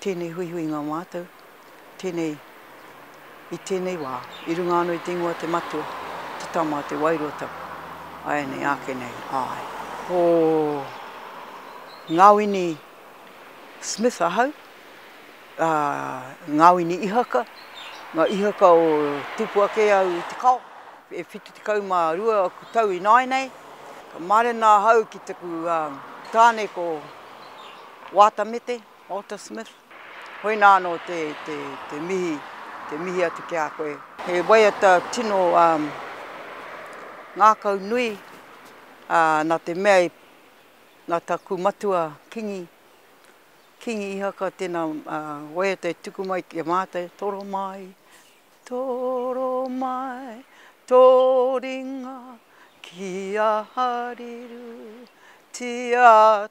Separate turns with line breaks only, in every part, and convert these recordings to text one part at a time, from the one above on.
tēnei huihuinga o mātou, tēnei, i tēnei wā, i runga anō i te ingoa te Matua, te Tama, te Wairua Tapu, āianei, āke nei, āe. Ko Ngāwini Smith ahau, ā, Ngāwini Ihaka, ngā ihaka o tupu ake au i te kao, e whitu tekau mā rua aku tau ināianei, ka mārena ahau ki taku tāne ko. Waata Mete, Walter Smith, hoi nā anō te, te, te mihi, te mihi atu ki a koe. He waiata tino um, ngākau nui uh, nā te mea i nā taku matua kingi, kingi Ihaka tēnā uh, waiata e tuku mai ki a mātou, toro mai, toro mai, tō ringa ki a hariru, tia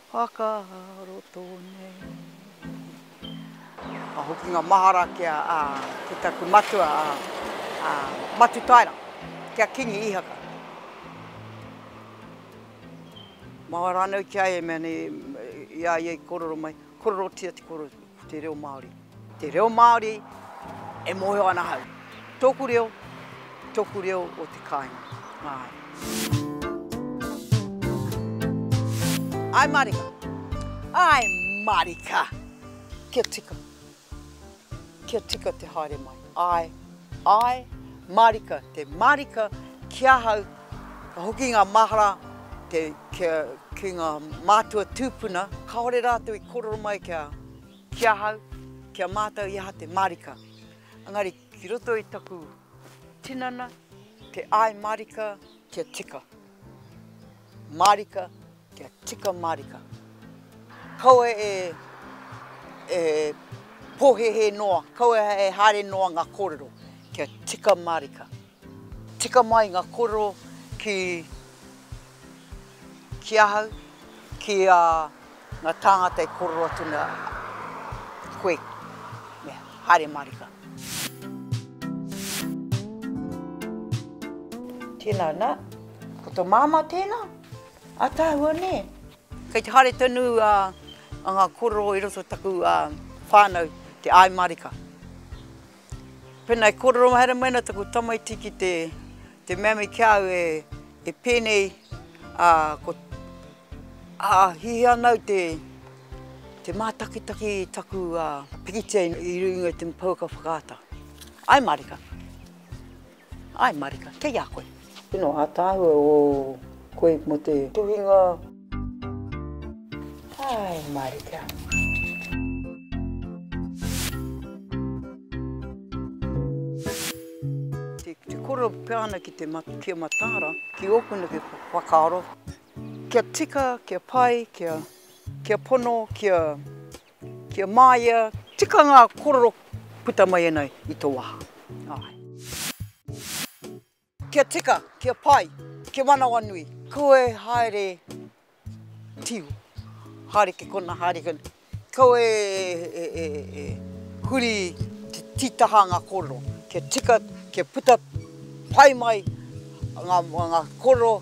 Whakaroto nei. Ka hokinga mahara ki a, a, ki taku matua, a, a, Matutaera, ki a Kingi Ihaka. Maha rānei ki a ia, mea nei, i a ia i korero mai, kororotia te korotu. Te reo Māori. Te reo Māori e mōhio ana ahau. Tōku reo, tōku reo o te kāinga. Āe. Āe mārika. Āe mārika. Kia tika. Kia tika te haere mai. Āe, āe mārika. Te mārika ki ahau. Ka hoki ngā mahara ki ngā mātua tūpuna. Kāore rātou i kōrero mai ki ahau, ki a mātou i aha te mārika. Engari ki roto i taku tinana, te āi mārika kia tika. Mārika kia tika mārika. Kaua e pōhēhē noa, kaua e haere noa ngā kōrero kia tika mārika. Tika mai nga koro ki ki ahau, ki a nga tāngata e kororo atu na koe me haere marika. Tēnā nā, ko to māmā tēnā, ataahua nē. Kei te haere tonu a nga kororo i roto taku whānau te ae marika. Pēnā e kōrero haere mai ana taku tamaiti ki te, te mea me ki a au e, e pēnei, ā, ko, ā, hiahia ana au te, te mātakitaki i taku, ā, pikitia i runga i te pouaka whakaata. Ae mārika. Ae marika, kei a koe. Tino ataahua o koe mo te tuhinga. Ae marika. Te koro pea ana ki te kia mataara, ki oku neke whakaaro, kia tika, kia pai, kia pono, kia Kia māia, tika ngā korero puta mai ana i tō waha. Kia tika, kia pai, kia manawanui. Koe haere tio, haere ki kona, haere ki kona. Koe e huri te titaha ngā korero. Kia tika, kia puta pai mai ngā korero.